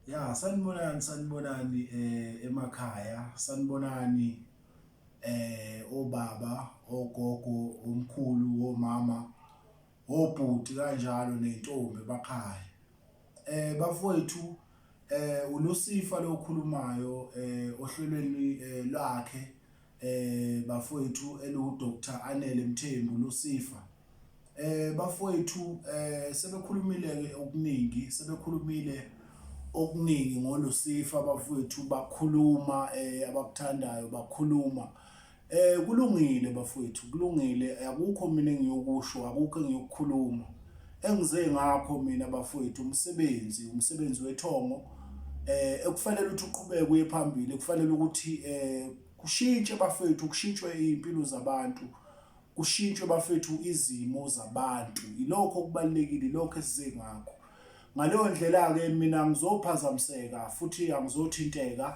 Ya sanibonani sanibonani eh emakhaya sanibonani eh obaba ogogo omkhulu omama obhuti kanjalo nentombi bakhaya eh bafowethu eh uLusifa lokhulumayo eh ohlelweni eh, lwakhe eh bafowethu eliwu Dr Anele Mthembu Lusifa eh bafowethu eh sebekhulumile ke okuningi sebekhulumile okuningi ngolusifa bafowethu bakhuluma eh abakuthandayo bakhuluma eh kulungile bafowethu kulungile akukho mina engiyokusho akukho engiyokukhuluma Engize ngakho mina bafowethu umsebenzi umsebenzi wethongo eh ekufanele ukuthi uqhubeke uye phambili ekufanele ukuthi eh kushintshe bafowethu kushintshwe impilo zabantu kushintshwe bafowethu izimo zabantu ilokho okubalekile lokho esize ngakho ngaleyo ndlela ke mina ngizophazamiseka futhi angizothinteka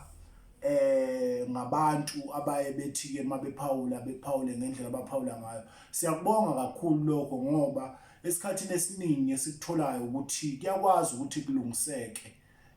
eh ngabantu abaye bethi ke mabephawula bephawule ngendlela abaphawula ngayo siyakubonga kakhulu lokho ngoba esikhathini esiningi esikutholayo ukuthi kuyakwazi ukuthi kulungiseke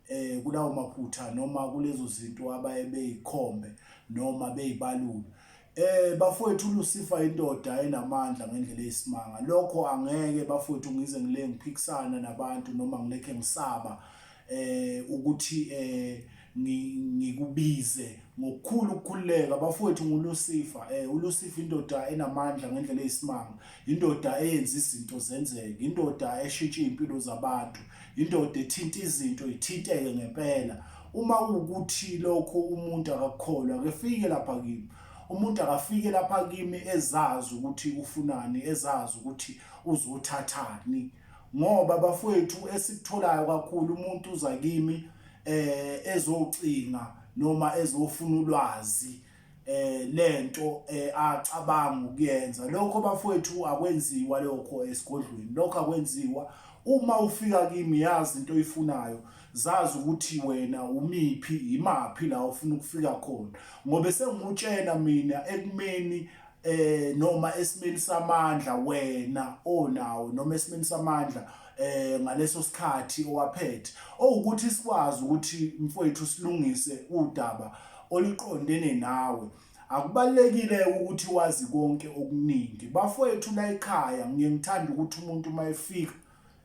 eh kulawo maphutha noma kulezo zinto abaye beyikhombe noma beyibalula Eh bafowethu uLucifer indoda enamandla ngendlela eyisimanga lokho angeke bafowethu ngize ngile ngiphikisana nabantu noma ngilekhe ngisaba eh ukuthi eh ngikubize ngokukhulu ukukhululeka bafowethu ngulusifa eh ulusifa indoda enamandla ngendlela eyisimanga indoda eyenza izinto zenzeke indoda eshintsha iy'mpilo zabantu indoda ethinta izinto ithinteke ngempela uma kuwukuthi lokho umuntu akakukholwa akefike lapha kimi umuntu akafike lapha kimi ezazi ukuthi ufunani ezazi ukuthi uzothathani ngoba bafowethu esikutholayo kakhulu umuntu uza kimi eh ezocinga noma ezofuna ulwazi eh lento eh, acabanga ukuyenza lokho bafowethu akwenziwa lokho esigodlweni lokho akwenziwa uma ufika kimi yazi into oyifunayo zazi ukuthi wena umiphi imaphi la ufuna ukufika khona ngobe sengutshena mina ekumeni eh noma esimeni samandla wena onawo noma esimeni samandla eh ngaleso sikhathi owaphethe owukuthi sikwazi ukuthi mfowethu silungise udaba oliqondene nawe akubalekile ukuthi wazi konke okuningi bafowethu la ekhaya ngiye ngithanda ukuthi umuntu uma efika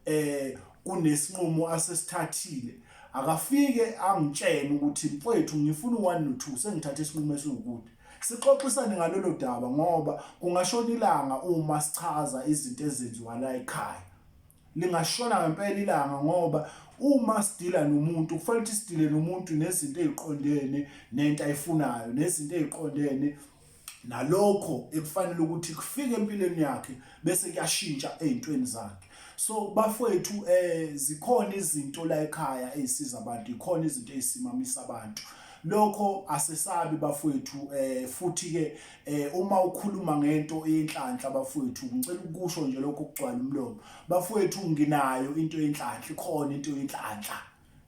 eh kunesinqumo asesithathile akafike angitshene ukuthi mfowethu ngifuna u1 no 2 sengithatha isinqumo esiwukuthi sixoxisane ngalolo daba ngoba kungashona ilanga uma sichaza izinto ezenziwa la ekhaya lingashona ngempela ilanga ngoba uma sidila nomuntu kufanele ukuthi sidile nomuntu nezinto eziqondene nento ayifunayo nezinto eziqondene nalokho ekufanele ukuthi kufike empilweni yakhe bese kuyashintsha ezintweni zakhe so bafowethu eh zikhona izinto la ekhaya ezisiza abantu ikhona izinto ezisimamisa abantu lokho asesabi bafowethu eh futhi ke eh uma ukhuluma ngento enhlanhla bafowethu ngicela ukusho nje lokho kugcwala umlomo bafowethu nginayo into enhlanhla ikhona into enhlanhla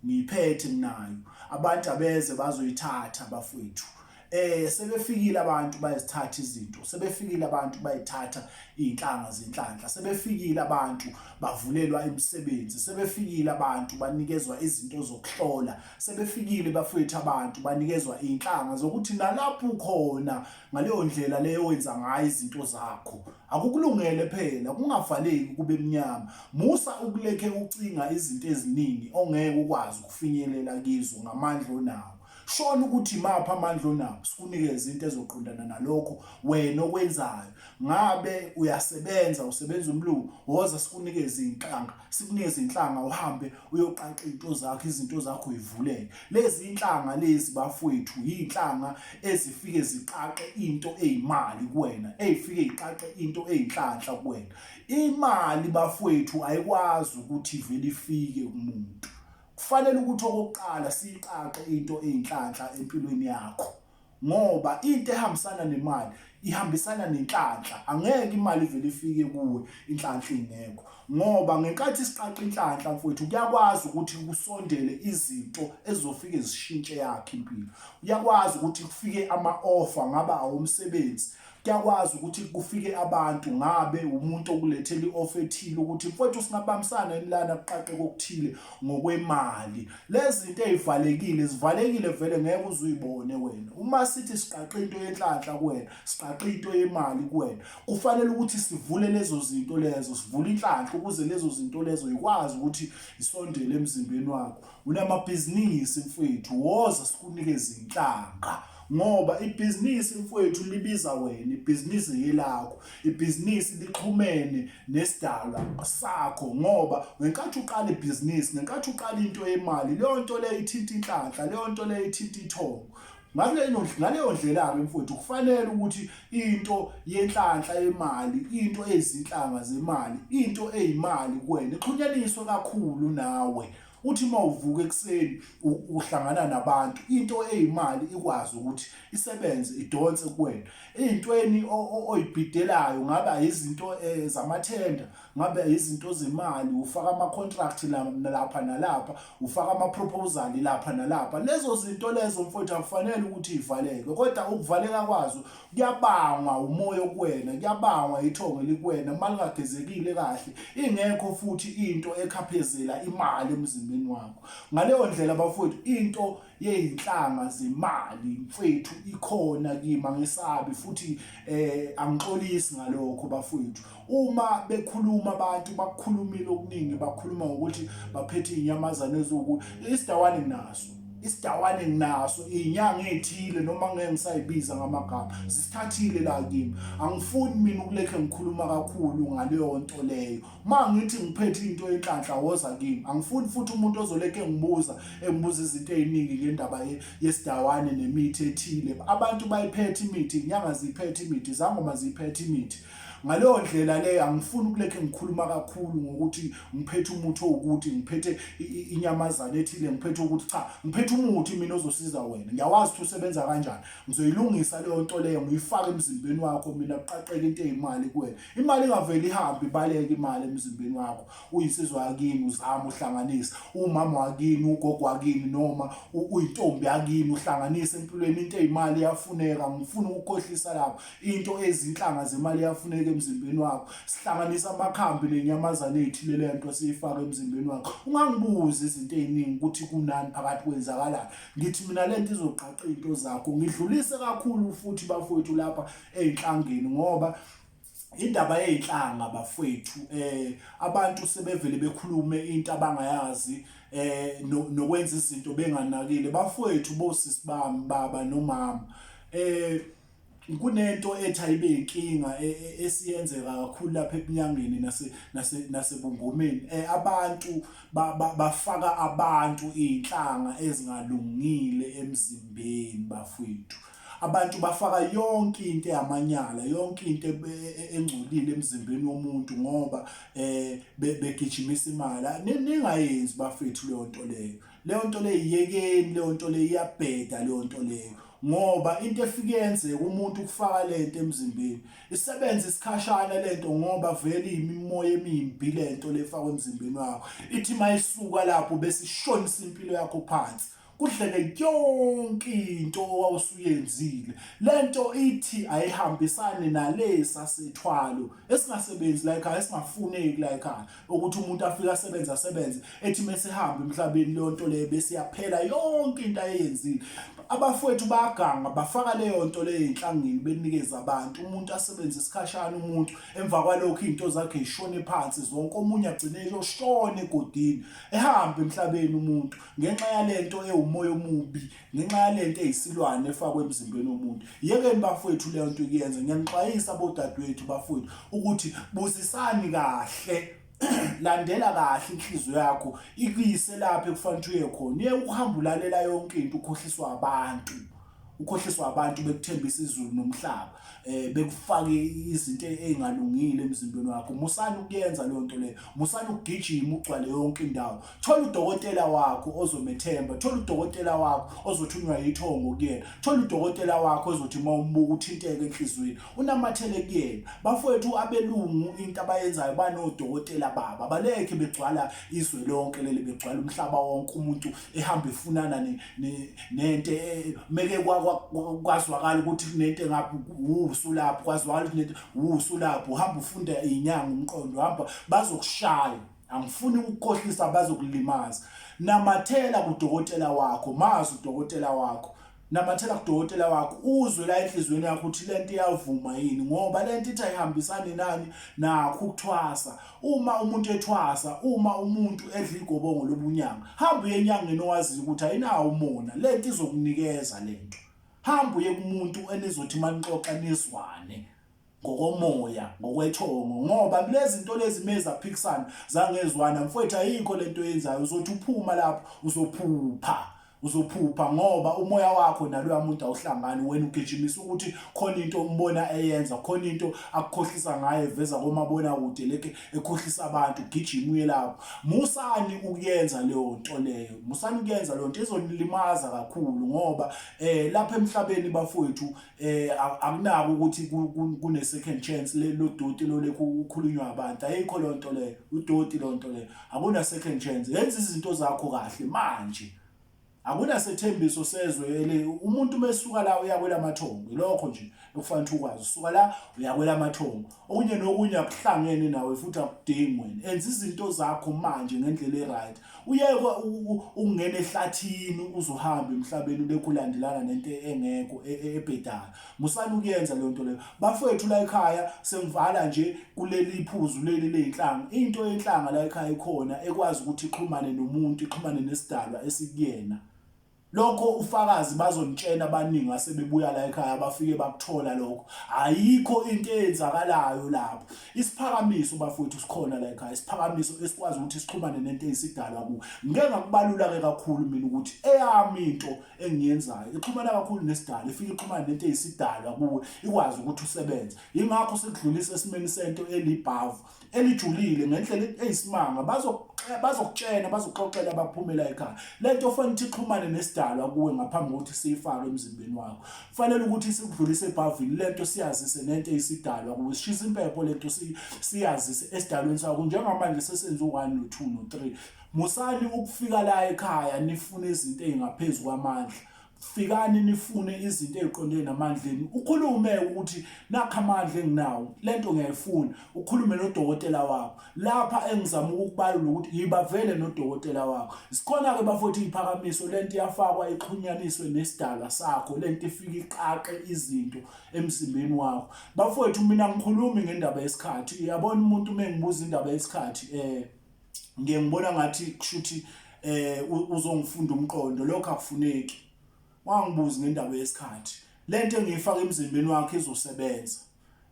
ngiyiphethe nginayo abantu abeze bazoyithatha bafowethu eh sebefikile abantu bayizithatha izinto sebefikile abantu bayithatha izinhlanga zenhlanhla sebefikile abantu bavulelwa imisebenzi sebefikile abantu banikezwa izinto zokuhlola sebefikile bafowethu abantu banikezwa inhlanga zokuthi nalapho ukhona ngaleyo ndlela leyo wenza ngayo izinto zakho akukulungele phela kungavaleki kube mnyama musa ukulekhe ucinga izinto eziningi ongeke ukwazi ukufinyelela kizo ngamandla onawo shona ukuthi mapha amandla onawo sikunikeze into ezoqondana nalokho wena okwenzayo ngabe uyasebenza usebenza umlungu woza sikunike izinhlanga sikunike izinhlanga uhambe uyoqaqa izinto zakho izinto zakho uyivuleke lezi inhlanga lezi bafowethu yinhlanga ezifike ziqaqe into ezimali kuwena ezifike iqaqe into ezinhlanhla kuwena imali bafowethu ayikwazi ukuthi vele ifike kumuntu kufanele ukuthi okokuqala siqaqe into ezinhlanhla empilweni yakho ngoba into ehambisana nemali ihambisana nenhlanhla angeke imali ivele ifike kuwe inhlanhla ingekho ngoba ngenkathi siqaqa inhlanhla mfowethu kuyakwazi ukuthi kusondele izinto ezizofike zishintshe yakhe impilo uyakwazi ukuthi kufike ama-offer ngaba awomsebenzi Kuyakwazi ukuthi kufike abantu ngabe umuntu okulethela i-off ethile ukuthi mfowethu singabambisana yini lana kuqaqe kokuthile ngokwemali lezi zinto ezivalekile zivalekile vele ngeke uzuyibone wena uma sithi siqaqe into yenhlanhla kuwena siqaqe into yemali kuwena kufanele ukuthi sivule lezo zinto lezo sivule inhlanhla ukuze lezo zinto lezo ikwazi ukuthi isondele emzimbeni wakho unamabhizinisi mfwethu woza sikunikeze inhlanga ngoba ibhizinisi mfwethu libiza wena ibhizinisi yelakho ibhizinisi lixhumene nesidalwa sakho ngoba ngenkathi uqala ibhizinisi ngenkathi uqala into yemali leyo nto leyo ithinta inhlanhla leyo nto leyo ithinta ithongo ngaleyo ndlela-ke mfowethu kufanele ukuthi into yenhlanhla yemali into eyizinhlanga zemali into eyimali kuwena ixhunyaniswe kakhulu nawe uthi uma uvuka ekuseni uhlangana nabantu into eyimali ikwazi ukuthi isebenze idonse kuwena ey'ntweni oyibhidelayo ngaba yizinto um zamathenda ngabe izinto zemali ufaka ama-contract lapha nalapha ufaka ama-proposal lapha nalapha lezo zinto lezo mfowethu akufanele ukuthi ivaleke kodwa ukuvaleka kwazo kuyabangwa umoya okuwena kuyabangwa ithongo elikuwena uma lingagezekile kahle ingekho futhi into ekhaphezela imali emzimbeni wakho ngaleyo ndlela bafowethu into yey'nhlanga zemali mfethu ikhona kimi angesabi futhi um angixolisi ngalokho bafowethu uma bekhuluma abantu bakukhulumile okuningi bakhuluma ngokuthi baphethe inyamazane ezuku isidawane nginaso isidawane nginaso inyanga ethile noma ngeke ngisayibiza ngamagama sisithathile la kimi angifuni mina ukulekhe ngikhuluma kakhulu ngaleyo nto leyo ma ngithi ngiphethe into enhlanhla woza kimi angifuni futhi umuntu ozolekhe ngibuza engibuza izinto eziningi ngendaba yesidawane nemithi ethile abantu bayiphethe imithi inyanga ziphethe imithi zangoma ziphethe imithi ngaleyo ndlela leyo angifuni ukulekhe ngikhuluma kakhulu ngokuthi ngiphethe umuthi owukuthi ngiphethe inyamazane ethile ngiphethe ukuthi cha ngiphethe umuthi mina ozosiza wena ngiyawazi ukuthi usebenza kanjani ngizoyilungisa leyo nto leyo ngiyifake emzimbeni wakho mina kuqaqeke into eyimali kuwena imali ingaveli ihambe ibaleke imali emzimbeni wakho uyinsizwa yakini uzama uhlanganisa umama wakini ugogo wakini noma uyintombi yakini uhlanganisa empilweni into eyimali iyafuneka ngifuna ukukhohlisa lapho into ezinhlanga zemali yafuneka emzimbeni wakho sihlanganisa amakhambi nenyamazane ethile le nto siyifaka emzimbeni wakho ungangibuzi izinto eziningi ukuthi kunani phakathi kwenzakalani ngithi mina le nto izogqaqa izinto zakho ngidlulise kakhulu futhi bafowethu lapha ezinhlangeni ngoba indaba yezinhlanga bafwethu eh abantu sebevele bekhulume into abangayazi eh nokwenza izinto benganakile bafwethu bosisi bami baba nomama eh kunento ethi ayibe inkinga e, e, esiyenzeka kakhulu lapha ebunyangeni nase nase nasebungomeni eh, abantu bafaka abantu izinhlanga ezingalungile emzimbeni bafwethu abantu bafaka yonke into eyamanyala yonke into e, engcolile emzimbeni womuntu ngoba eh begijimisa imali ningayenzi bafethu leyo nto leyo leyo nto leyo iyekeni leyo nto leyo iyabheda leyo nto leyo ngoba into efike yenzeka umuntu ukufaka lento emzimbeni isebenza isikhashana lento ngoba vele imimoya emimbi lento lefakwa emzimbeni wakho ithi mayisuka lapho bese ishonisa impilo yakho phansi kudleke yonke into owawusuyenzile lento ithi ayihambisani nalesa sethwalo esingasebenzi la ekhaya esingafuneki la ekhaya ukuthi umuntu afike asebenze asebenze ethi mesihamba emhlabeni leyo nto leyo bese yaphela yonke into ayeyenzile abafowethu bayaganga bafaka leyo nto leyo enhlangeni benikeza abantu umuntu asebenze isikhashana umuntu emva kwalokho into zakhe ishone phansi zonke omunye agcine eyoshona egodini ehambe emhlabeni umuntu ngenxa yalento ewumoya omubi ngenxa yalento eyisilwane efakwe emzimbeni womuntu yekeni bafowethu leyo nto ikuyenza ngiyanixwayisa bodadewethu bafowethu ukuthi busisani kahle landela kahle inhliziyo yakho ikuyise lapho ekufanele uye khona uye ukuhamba ulalela yonke into ukhohliswa abantu ukhohliswa abantu bekuthembisa izulu nomhlaba eh bekufake izinto ezingalungile emzimbeni wakho musani ukuyenza leyo nto leyo musani ukugijima ugcwale yonke indawo thola udokotela wakho ozomethemba thola udokotela wakho ozothunywa yithongo kuyena thola udokotela wakho ozothi uma umbuka uthinteke enhliziyweni unamathele kuyena bafowethu abelungu into abayenzayo banodokotela baba balekhe begcwala izwe lonke leli begcwala umhlaba wonke umuntu ehamba efunana nento e, meke kwazwakala ukuthi kunento engaphi usulapho kwazwakala ukuthi nento usulapho uhamba ufunda inyanga umqondo hamba bazokushaya angifuni ukukhohlisa abazokulimaza namathela kudokotela wakho mazi udokotela wakho namathela kudokotela wakho uzwe la enhliziyweni yakho ukuthi lento iyavuma yini ngoba lento ithi ayihambisani nani nakho ukuthwasa uma umuntu ethwasa uma umuntu edla igobongo lobunyanga hamba uye enyangeni owaziyo ukuthi ayinawo umona lento izokunikeza lento hamba uye kumuntu enizothi manixoxa nizwane ngokomoya ngokwethongo ngoba kulezi zinto lezi meza phikisana zangezwana mfowethu ayikho lento yenzayo uzothi uphuma lapho uzophupha uzophupha ngoba umoya wakho naloya muntu awuhlangani wena ugijimisa ukuthi khona into ombona eyenza khona into akukhohlisa ngayo eveza komabona kude leke ekhohlisa abantu gijima uye lapho musani ukuyenza leyo nto leyo musani ukuyenza leyo nto izonilimaza kakhulu ngoba eh lapha emhlabeni bafowethu eh akunako ukuthi kune second chance le lo doti lo lekho ukhulunywa abantu ayikho lo nto leyo udoti lo nto leyo akuna second chance yenza izinto zakho kahle manje akuna sethembiso sezwe ele umuntu mesuka la uyakwela amathongo lokho nje ekufanele ukuthi ukwazi usuka la uyakwela amathongo okunye nokunye akuhlangene nawe futhi akudingi wena enza izinto zakho manje ngendlela e-right uyekwa ukungena ehlathini uzohamba emhlabeni ubekho ulandelana nento engekho e, e, ebhedayo musani ukuyenza leyo nto leyo bafowethu la ekhaya sengivala nje kuleli phuzu leli leyinhlanga into yenhlanga la ekhaya ikhona ekwazi ukuthi ixhumane nomuntu ixhumane nesidalwa esikuyena lokho ufakazi bazonitshela abaningi asebebuya la ekhaya bafike bakuthola lokho ayikho into eyenzakalayo lapho isiphakamiso bafowethu sikhona la ekhaya isiphakamiso esikwazi ukuthi sixhumane nento eyisidalwa ku ngeke ngakubalula ke kakhulu mina ukuthi eyami into engiyenzayo ixhumana kakhulu nesidalo ifike ixhumane nento eyisidalwa kuwe ikwazi ukuthi usebenze ingakho sikudlulisa esimeni sento elibhavu elijulile ngendlela eyisimanga bazokutshena bazoxoxela abaphumela ekhaya lento ofanele ukuthi ixhumane nesidalwa kuwe ngaphambi kokuthi siyifake emzimbeni wakho kufanele ukuthi sikudlulise ebhavini lento siyazise nento eyisidalwa kuwe sishisa impepho lento siyazise esidalweni sakho njengamanje sesenze u-1 no-2 no-3 musani ukufika la ekhaya nifune izinto ezingaphezulu kwamandla fikani nifune izinto eziqondene namandla enu ukhulume ukuthi nakho amandla enginawo lento ngiyayifuna ukhulume nodokotela wakho lapha engizama ukukubalula ukuthi yibavele nodokotela wakho sikhona ke bafowethu iphakamiso lento iyafakwa ixhunyaniswe nesidala sakho lento ifika iqaqe izinto emzimbeni wakho bafowethu mina ngikhulumi ngendaba yesikhathi uyabona umuntu uma engibuza indaba yesikhathi eh ngiye ngibona ngathi kushuthi eh uzongifunda umqondo lokho akufuneki wangibuza ngendaba yesikhathi lento engiyifaka emzimbeni wakhe izosebenza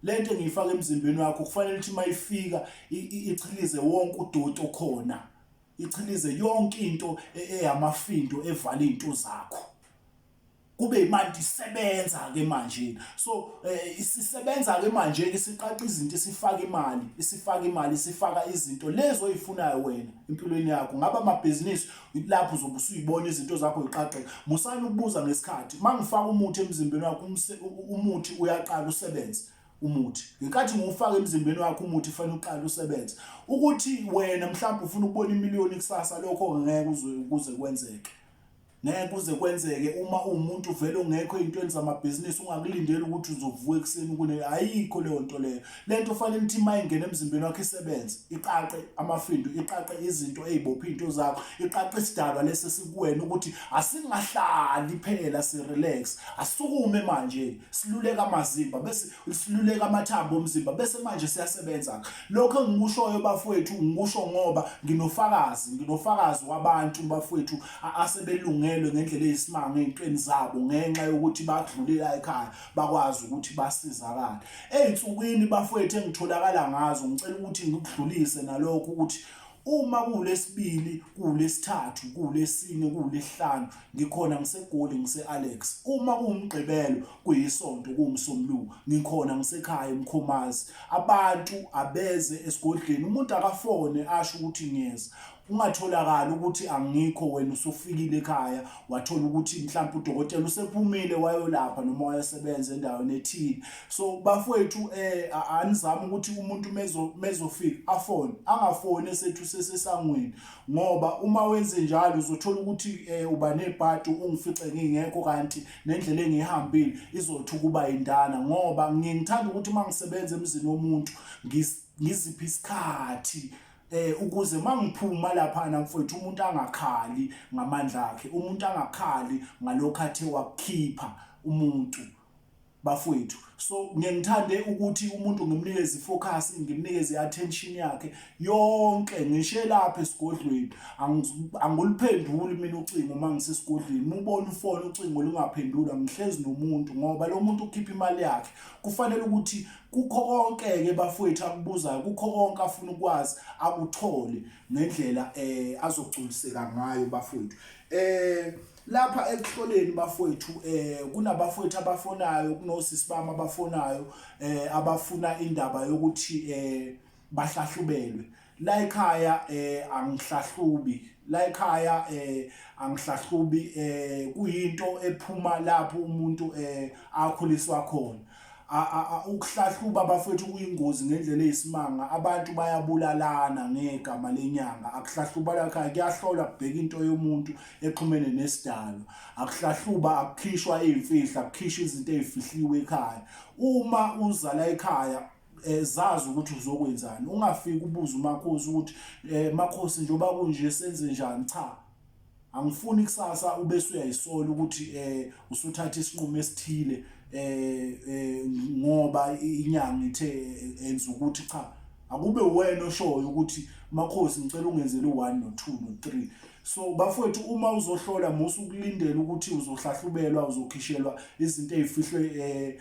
lento engiyifaka emzimbeni wakho kufanele ukuthi mayifika ichilize wonke udoti okhona ichilize yonke into e-, eyamafindo evala izinto zakho kube imanje isebenza ke manje so eh, isisebenza ke manje ke siqaqa izinto isifaka imali isifaka imali isifaka izinto lezo oyifunayo wena empilweni yakho ngaba amabhizinisi lapho uzobe usuyibona izinto zakho ziqaqeka musani ukubuza ngesikhathi mangifaka umuthi emzimbeni wakho umuthi uyaqala usebenze umuthi ngenkathi ngiwufaka emzimbeni wakho umuthi fanele uqale usebenze ukuthi wena mhlawumbe ufuna ukubona imiliyoni kusasa lokho ngeke uze kuze kwenzeke ngeke kuze kwenzeke uma uwumuntu vele ongekho ey'ntweni zamabhizinisi ungakulindeli ukuthi uzovuka ekuseni ukune ayikho leyo nto leyo le nto fanele ukuthi uma ingena emzimbeni wakho isebenze iqaqe amafindo iqaqe izinto ey'bophe iy'nto zakho iqaqe isidalwa lesi esikuwena ukuthi asingahlali phela si-relax asukume manje siluleka amazimba bese siluleka amathambo omzimba bese manje siyasebenza-ke lokho engikushoyo bafowethu ngikusho ngoba nginofakazi nginofakazi wabantu bafowethu asebelungelwe ngendlela eyisimanga ey'ntweni zabo ngenxa yokuthi badlule la ekhaya bakwazi ukuthi basizakale ey'nsukwini bafowethu engitholakala ngazo ngicela ukuthi ngikudlulise nalokho ukuthi uma kuwulesibili kuwulesithathu kuwulesine kuwulesihlanu ngikhona ngisegoli ngise-alex uma kuwumgqibelo kuyisonto kuwumsombuluko ngikhona ngisekhaya emkhomazi abantu abeze esigodleni umuntu akafone asho ukuthi ngiyeza kungatholakala ukuthi angikho wena usufikile ekhaya wathola ukuthi mhlawumbe udokotela usephumile wayolapha noma wayesebenza endaweni ethile so bafowethu eh anizama ukuthi umuntu mezo mezofika afone angafone sethu sesesangweni ngoba uma wenze njalo uzothola ukuthi eh uba nebhadi ungifice ngingekho kanti nendlela engihambile izothi ukuba indana ngoba ngingithanda ukuthi mangisebenza emzini womuntu ngiziphi isikhathi eh ukuze mangiphuma lapha na mfowethu umuntu angakhali ngamandla akhe umuntu angakhali ngalokho athe wakukhipha umuntu bafowethu so ngengithande ukuthi umuntu ngimnikeze ifocus ngimnikeze attention yakhe yonke ngishe lapha esigodlweni anguliphenduli mina ucingo uma ngisesigodlweni mubona ufone ucingo lungaphendula ngihlezi nomuntu ngoba lo muntu ukhipha imali yakhe kufanele ukuthi kukho konke-ke bafowethu akubuzayo kukho konke afuna ukwazi akuthole ngendlela eh azogculiseka ngayo bafowethu eh lapha ekuhloleni bafowethu eh kunabafowethu abafonayo kunosisi bami abafonayo eh abafuna indaba yokuthi eh bahlahlubelwe la ekhaya eh angihlahlubi la ekhaya eh angihlahlubi eh kuyinto ephuma lapho umuntu eh akhuliswa khona ukuhlahluba bafethu kuyingozi ngendlela eyisimanga abantu bayabulalana ngegama lenyanga akuhlahluba lakha kuyahlola kubheka into yomuntu exhumene nesidalo akuhlahluba akukhishwa izimfihlo akukhishwa izinto ezifihliwe ekhaya uma uzala ekhaya Eh, zazi ukuthi uzokwenzani ungafiki ubuze umakhosi ukuthi eh, makhosi njengoba kunje senze njani cha angifuni ikusasa ube suyayisola ukuthi eh usuthatha isinqumo esithile eh, eh ngoba inyanga ithe eh, enza ukuthi cha akube wena oshoyo ukuthi makhosi ngicela ungenzele u1 no 2 no 3 so bafowethu uma uzohlola musu ukulindela ukuthi uzohlahlubelwa uzokhishelwa izinto ezifihlwe eh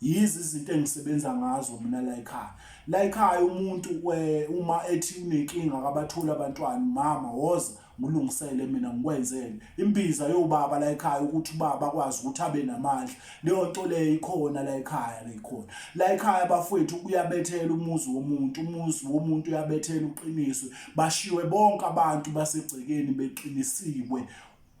yizi izinto engisebenza ngazo mina la ekhaya la ekhaya umuntu uma ethi unenkinga akabatholi abantwana mama woza ngulungisele mina ngikwenzele imbiza yobaba la ekhaya ukuthi ubaba akwazi ukuthi abe namandla leyo nto leyo ikhona la ekhaya leyikhona la ekhaya bafowethu kuyabethela umuzi womuntu umuzi womuntu uyabethela uqiniswe bashiwe bonke abantu basegcekeni beqinisiwe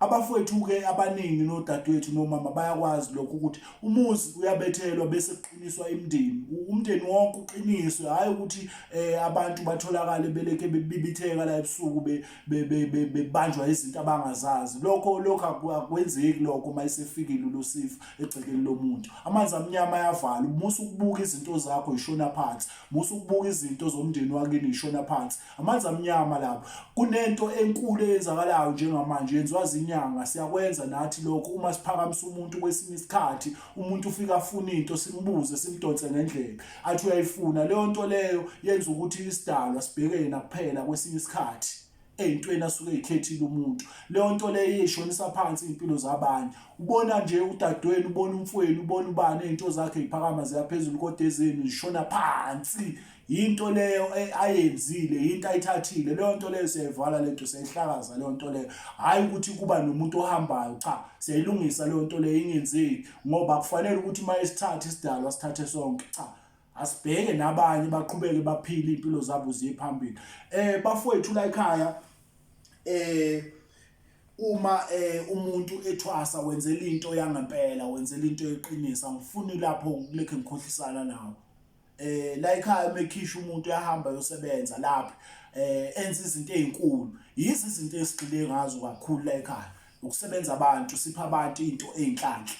Abafowethu-ke abaningi nodadewethu nomama bayakwazi lokho ukuthi umuzi uyabethelwa bese kuqiniswa imndeni. Umndeni wonke uqiniswe, hhayi ukuthi um abantu batholakale beleke bebibitheka la ebusuku bebanjwa izinto abangazazi. Lokho lokho akwenzeki lokho uma esefikile uLusifa egcekeni lomuntu. Amanzi amnyama ayavala, musa ukubuka izinto zakho yishona phansi, musa ukubuka izinto zomndeni wakini yishona phansi. amanzi amnyama lapho kunento enkulu eyenzakalayo njengamanje yenziwa zinyanga siyakwenza nathi lokho uma siphakamisa umuntu kwesinye isikhathi umuntu ufika afuna into simbuze simdonse ngendlela athi uyayifuna leyo nto leyo yenza ukuthi isidalwa sibhekene nakuphela kwesinye isikhathi eyintweni asuke eyikhethile umuntu leyo nto leyo ishonisa phansi impilo zabanye ubona nje udadewenu ubona umfowenu ubona ubani izinto zakhe ziphakama ziyaphezulu kodwa ezenu zishona phansi yinto leyo e- ayenzile yinto ayithathile leyo nto leyo siyayivala lento siyayihlakaza leyo nto leyo hhayi ukuthi kuba nomuntu ohambayo cha siyayilungisa leyo nto leyo ingenzeki ngoba kufanele ukuthi uma isithathe isidalwa sithathe sonke cha asibheke nabanye baqhubeke baphile iy'mpilo zabo ziye phambili um bafowethu la ekhaya um uma eh umuntu ethwasa wenzela into yangempela wenzela into eqinisa ngifuna lapho kulekhe ngikhohlisana nawo eh la ekhaya uma ekhisha umuntu uyahamba yosebenza lapha eh enza izinto ezinkulu yizi izinto esigxile ngazo kakhulu la ekhaya ukusebenza abantu sipha abantu into ezinhlanhla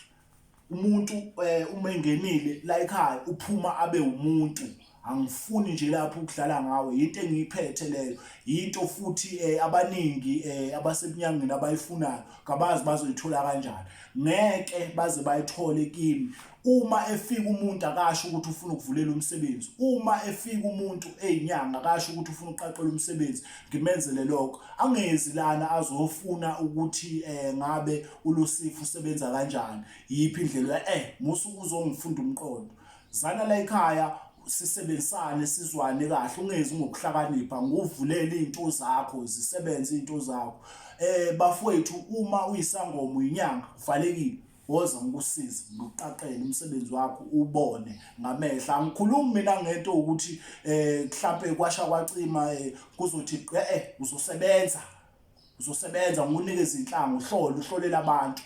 umuntu eh, uma engenile la ekhaya uphuma abe umuntu angifuni nje lapho ukudlala ngawe yinto engiyiphethe leyo yinto futhi eh, abaningi eh, abasebunyangweni abayifunayo kabazi bazoyithola kanjani ngeke baze bayithole kimi uma efika umuntu akasho ukuthi ufuna ukuvulela umsebenzi uma efika umuntu eyinyanga akasho ukuthi ufuna ukuqaqela umsebenzi ngimenzele lokho angezi lana azofuna ukuthi eh ngabe uLusifu usebenza kanjani yiphi indlela eh musu uzongifunda umqondo zana la ekhaya sisebenzisane sizwane kahle ungezi ngokuhlakanipha nguvulele izinto zakho zisebenze izinto zakho eh bafowethu uma uyisangoma uyinyanga kuvalekile woza ngikusize ngiqaqele umsebenzi wakho ubone ngamehla angikhulumi mina ngento ukuthi eh mhlambe kwasha kwacima eh, kuzothi eh, eh uzosebenza uzosebenza ngunike izinhlanga uhlole uhlolela abantu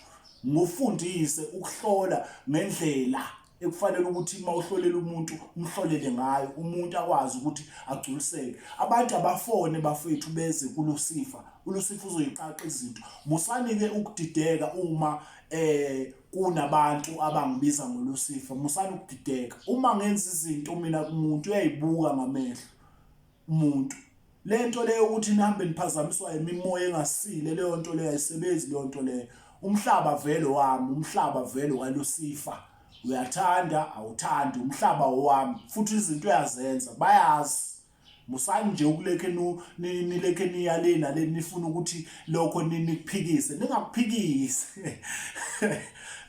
ngufundise ukuhlola ngendlela ekufanele ukuthi uma uhlolela umuntu umhlolele ngayo umuntu akwazi ukuthi agculiseke abantu abafone bafethu beze kulusifa ulusifa uzoyiqaqa izinto musanike ukudideka uma eh kunabantu abangibiza ngolusifa musani ukudideka uma ngenza izinto mina kumuntu uyayibuka ngamehlo umuntu lento leyo ukuthi nihambe niphazamiswa imimoya engasile leyo nto leyo ayisebenzi leyo nto leyo umhlaba vele wami umhlaba vele walusifa uyathanda awuthandi umhlaba wami futhi izinto uyazenza bayazi musani nje ukulekhe nilekhe niyalena le nifuna ukuthi lokho nikuphikise ningakuphikise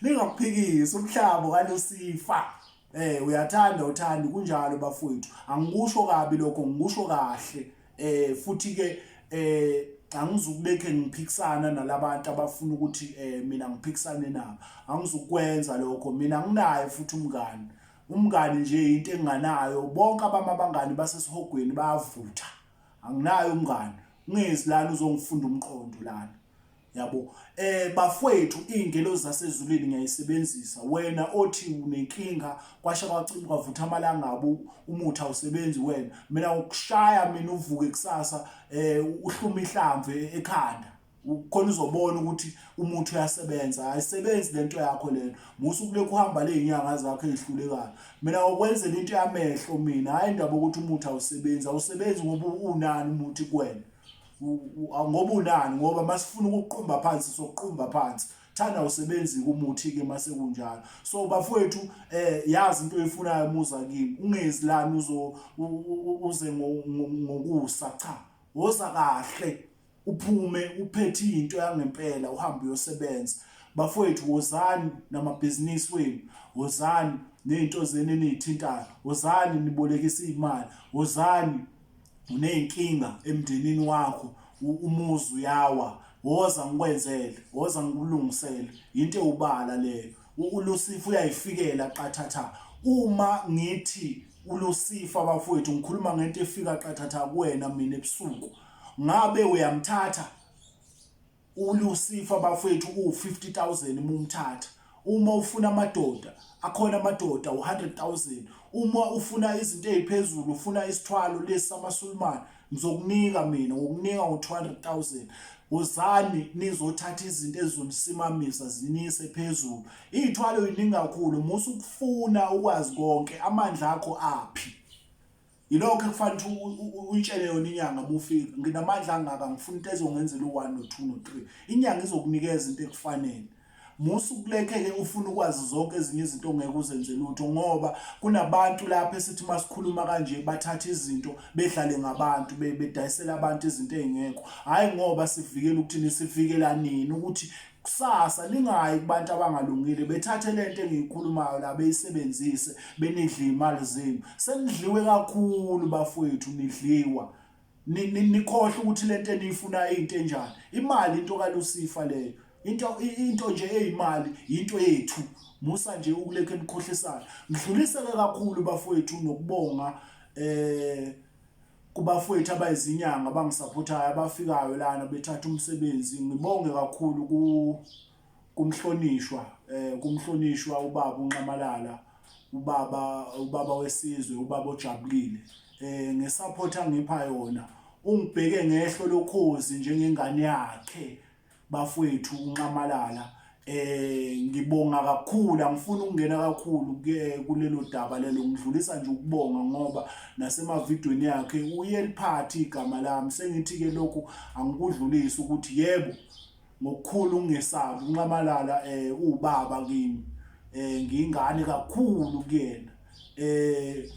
ningakuphikise umhlaba walusifa Eh uyathanda uthanda kunjalo bafowethu. Angikusho kabi lokho ngikusho kahle. Eh futhi ke eh angizukubekhe ngiphikisana nalabantu abafuna ukuthi eh mina ngiphikisane nabo. Angizukwenza lokho. Mina nginaye futhi umngani. Umngani nje into enganayo bonke abama abangani basesihogweni bayavutha. Anginayo umngani. Ungezi lana uzongifunda umqondo lana. yabo eh bafwethu ingelo zasezulwini ngiyayisebenzisa wena othi unenkinga kwasha kwacima kwavutha amalangabu umuthi awusebenzi wena mina ukushaya mina uvuke kusasa eh uhluma ihlamve ekhanda khona uzobona ukuthi umuthi uyasebenza ayisebenzi lento yakho lena musu kulekho uhamba lezinyanga zakho ezihlulekayo mina okwenzela into yamehlo mina hayi indaba ukuthi umuthi awusebenzi awusebenzi ngoba unani umuthi kwena ngoba unani ngoba masifuna ukuqumba phansi sokuqumba phansi thanda usebenzi kumuthi ke mase kunjalo so bafowethu eh yazi into oyifunayo muza kimi ungezi lana uzo uze ngokusa cha woza kahle uphume uphethe into yangempela uhambe uyosebenza bafowethu wozani namabhizinisi wenu wozani nezinto zenu enithintayo wozani nibolekisa imali wozani uney'nkinga emndenini wakho umuzi uyawa woza ngikwenzele woza ngikulungisele yinto ewubala leyo ulusifa uyayifikela qathatha uma ngithi ulusifa bafowethu ngikhuluma ngento efika qathatha kuwena mina ebusuku ngabe uyamthatha ULucifer bafwethu uwu-50000 mumthatha uma ufuna amadoda akhona amadoda u-100000 uma ufuna izinto eziphezulu ufuna isithwalo lesi samasulumane ngizokunika mina ngokunika ngo-200000 wozani nizothatha izinto ezizonisimamisa zinise phezulu iy'thwalo yiningi kakhulu musa ukufuna ukwazi konke amandla akho aphi yilokho ekufanele ukuthi uyitshele yona inyanga uma ufika nginamandla angaka ngifuna into ezongenzela u-one no-two no-three inyanga izokunikeza into ekufanele musa ukulekeke ufuna ukwazi zonke ezinye izinto ongeke uzenze lutho ngoba kunabantu lapha esithi masikhuluma kanje bathatha izinto bedlale ngabantu bedayisela abantu izinto ezingekho hayi ngoba sivikela ukuthini sivikela nini ukuthi kusasa lingayi kubantu abangalungile bethathe lento engiyikhulumayo la beyisebenzise benidle imali zenu senidliwe kakhulu bafowethu nidliwa nikhohle ukuthi lento eniyifuna into enjani imali into kalusifa leyo into into nje eyimali into yethu musa nje ukulekhe nikhohlisana ngidlulise ke kakhulu bafowethu nokubonga eh kubafowethu abayizinyanga abangisaphothayo abafikayo lana bethatha umsebenzi ngibonge kakhulu ku kumhlonishwa eh kumhlonishwa ubaba unxamalala ubaba ubaba wesizwe ubaba ojabulile eh ngesupport angipha yona ungibheke ngehlo lokhozi njengengane yakhe bafwethu unxamalala eh ngibonga kakhulu angifuni ukungena kakhulu ke kulelo daba lelo ngidlulisa nje ukubonga ngoba nasemavidweni yakhe uyeliphathi igama lami sengithi ke lokhu angikudlulisi ukuthi yebo ngokukhulu ungesabi unxamalala eh ubaba kimi eh ngingane kakhulu kuyena eh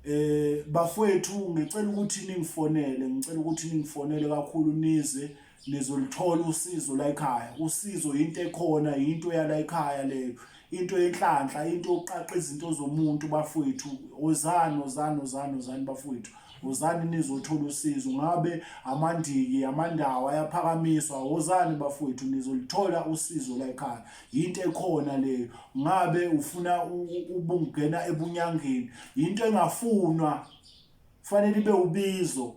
eh bafwethu ngicela ukuthi ningifonele ngicela ukuthi ningifonele kakhulu nize nizolithola usizo la ekhaya usizo yinto ekhona yinto yala ekhaya leyo into yenhlanhla into yokuqaqa izinto zomuntu bafowethu ozani ozani ozani ozani bafowethu wozani nizothola usizo ngabe amandiki amandawo ayaphakamiswa wozani bafowethu nizolithola usizo la ekhaya yinto ekhona leyo ngabe ufuna ubungena ebunyangeni yinto engafunwa kufanele ibe ubizo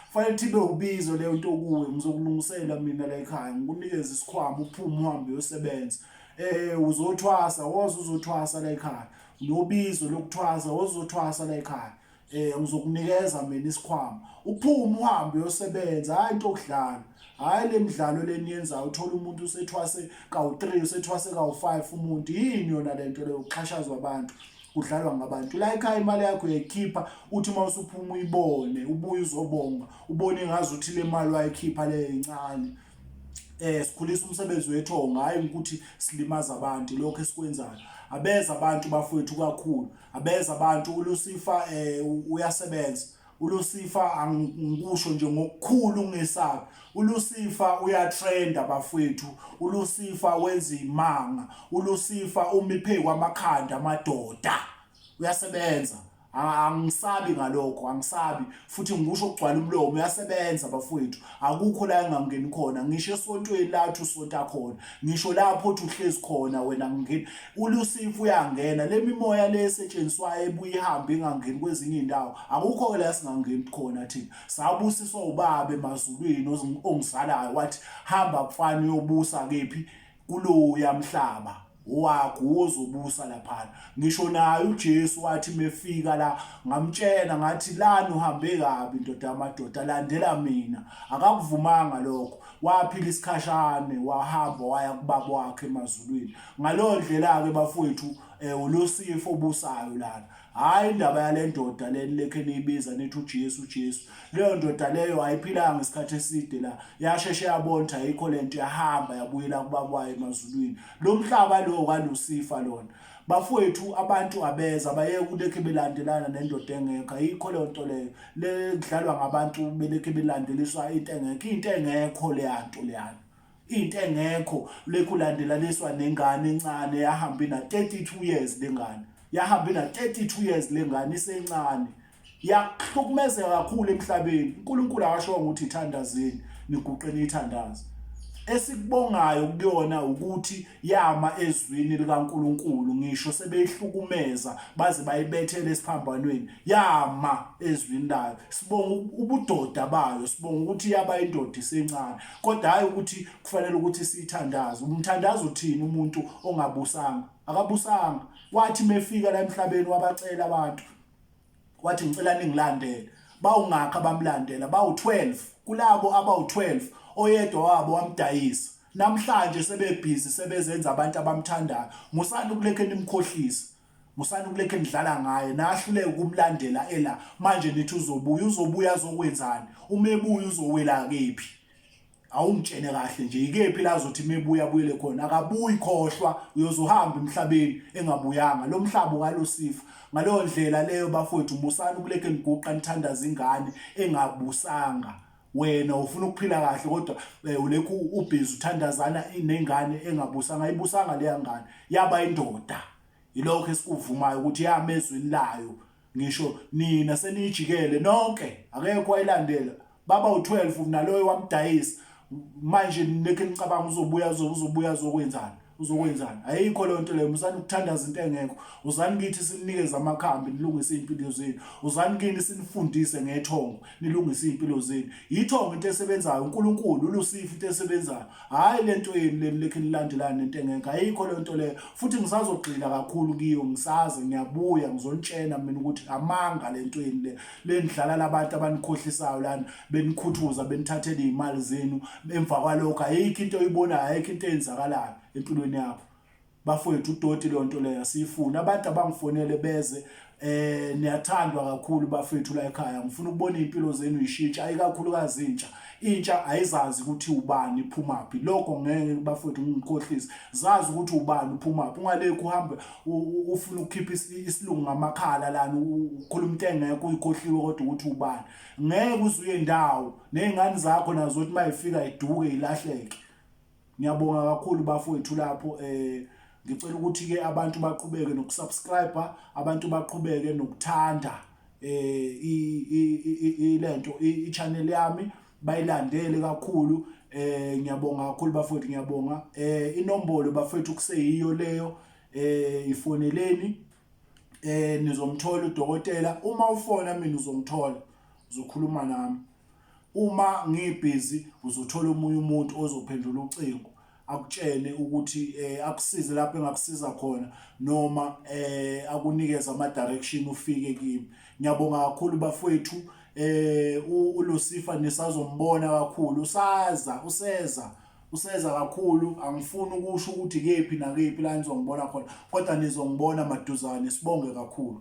kufanele ibe ubizo leyo nto kuwe ngizokulungisela mina la ekhaya ngikunikeza isikhwama uphume uhambe uyosebenza eh uzothwasa woza uzothwasa la ekhaya nobizo lokuthwasa woza uzothwasa la ekhaya eh ngizokunikeza mina isikhwama uphume uhambe uyosebenza hayi into okudlala hhayi le midlalo leniyenzayo uthole umuntu usethwase kawu-three usethwase kawu-five umuntu yini yona le nto leyo kuxhashazwa abantu kudlalwa ngabantu la ekhaya imali yakho uyayikhipha uthi uma usuphuma uyibone ubuye uzobonga ubone ngazi ukuthi le mali wayikhipha leyo incane eh sikhulisa umsebenzi wethu ongayi ukuthi silimaza abantu lokho esikwenzayo abeza abantu bafowethu kakhulu abeza abantu ulusifa eh uyasebenza uLucifer angikusho nje ngokukhulu ngesabi uLucifer uyatrenda bafwethu uLucifer wenza imanga uLucifer umiphe kwamakhanda amadoda uyasebenza angisabi ngalokho angisabi futhi ngikusho kugcwala umlomo uyasebenza bafwethu akukho la engangeni khona ngisho esontweni lathi usonta khona ngisho lapho othi uhlezi khona wena ngingeni ulusifu uyangena le mimoya le esetshenziswayo ebuye ihambe ingangeni kwezinye indawo akukho la singangeni khona thina sabusiswa ubabe emazulwini ongizalayo wathi hamba mfana uyobusa kephi kuloya mhlaba waguza ubusa laphana ngisho naye uJesu wathi mefika la ngamtshena ngathi lana uhambe kabi ndoda amadoda landela mina akakuvumanga lokho waphila isikhashane wahamba waya kubaba wakhe emazulwini ngaleyo ndlela-ke bafowethu um ulosifo obusayo lana hhayi indaba yale ndoda le nilekhe niyibiza nithi ujesu ujesu leyo ndoda leyo ayiphilanga isikhathi eside la yasheshe yabona ukuthi ayikho le nto yahamba yabuyela kubaba wayo emazulwini lo mhlaba lowo kalusifa lona bafowethu abantu abeza bayeke kulekhe belandelana nendoda engekho ayikho leyo nto leyo le kudlalwa ngabantu belekhe belandeliswa into engekho into engekho leya nto leyana into engekho lekhu ulandelaniswa nengane encane yahamba ina 32 years lengane yahamba ina 32 years lengane isencane yakuhlukumezeka kakhulu emhlabeni uNkulunkulu akashonga ukuthi ithandazeni niguqeni ithandaza esikubongayo kuyona ukuthi yama ezwini likaNkuluNkulu ngisho sebeyihlukumeza baze bayibethele esiphambanweni yama ezwini layo sibonga ubudoda bayo sibonga ukuthi yaba indoda isencane kodwa hhayi ukuthi kufanele ukuthi siyithandaze umthandazo uthini umuntu ongabusanga akabusanga wathi mefika la emhlabeni wabacela abantu wathi ngicela ningilandele bawungakha bamlandela bawu-12 kulabo abawu-12 oyedwa wabo wamdayisa namhlanje sebebhizi sebezenza abantu abamthandayo musani ukulekhe nimkhohlisa musani ukulekhe nidlala ngaye nahluleke ukumlandela ela manje nithi uzobuya uzobuya azokwenzani uma ebuya uzowela kephi awungitshene kahle nje ikephi la azothi mebuya abuyele khona akabuyi khohlwa uyozohamba emhlabeni engabuyanga lo mhlaba ukalusifa ngaleyo ndlela leyo bafowethu musani ukulekhe niguqa nithandaza ingane engabusanga wena ufuna ukuphila kahle kodwa eh, ulekhu ubhizi uthandazana inengane engabusanga ayibusanga leya ngane yaba indoda yilokho esikuvumayo ukuthi yame ezweni layo ngisho nina senijikele nonke akekho ayilandela baba u12 naloyo wamdayisa manje nekhe nicabanga uzobuya uzobuya zokwenzani uzokwenzani ayikho leyo nto leyo musani ukuthandaza into engekho uzani kithi sinikeze amakhambi nilungise iy'mpilo zenu uzani kini sinifundise ngethongo nilungise iy'mpilo zenu yithongo into esebenzayo unkulunkulu ulusifu into esebenzayo hhayi le nto yenu leni lekhe nilandelani nento engekho ayikho leyo nto leyo futhi ngisazogxila kakhulu kiyo ngisaze ngiyabuya ngizonitshena mina ukuthi amanga le nto yenu le lenidlala labantu abanikhohlisayo lana benikhuthuza benithathele iy'mali zenu emva kwalokho ayikho into oyibonayo ayikho into eyenzakalayo empilweni yakho bafowethu udoti leyo nto leyo asiyifuni abantu abangifonele beze eh niyathandwa kakhulu bafethu la ekhaya ngifuna ukubona impilo zenu ishintsha ayikakhulukazi intsha intsha ayizazi ukuthi ubani iphumaphi lokho ngeke bafethu ngikhohlise zazi ukuthi ubani uphumaphi ungalekho uhambe ufuna ukukhipha isilungu ngamakhala lana ukhuluma into engekho uyikhohliwe kodwa ukuthi ubani ngeke uzuye ndawo nezingane zakho nazo ukuthi mayifika iduke ilahleke ngiyabonga kakhulu bafowethu lapho eh ngicela ukuthi ke abantu baqhubeke nokusubscribe abantu baqhubeke nokuthanda eh ilento i channel yami bayilandele kakhulu eh ngiyabonga kakhulu bafowethu ngiyabonga eh inombolo bafowethu kuseyiyo leyo eh ifoneleni eh nizomthola udokotela uma ufona mina uzongithola uzokhuluma nami uma ngibhizi uzothola umunye umuntu ozophendula ucingo akutshene ukuthi eh akusize lapho engakusiza khona noma eh akunikeze ama direction ufike kimi ngiyabonga kakhulu bafowethu eh uLucifer nisazombona kakhulu usaza useza useza kakhulu angifuni ukusho ukuthi kephi nakephi la nizongibona khona kodwa nizongibona maduzane sibonge kakhulu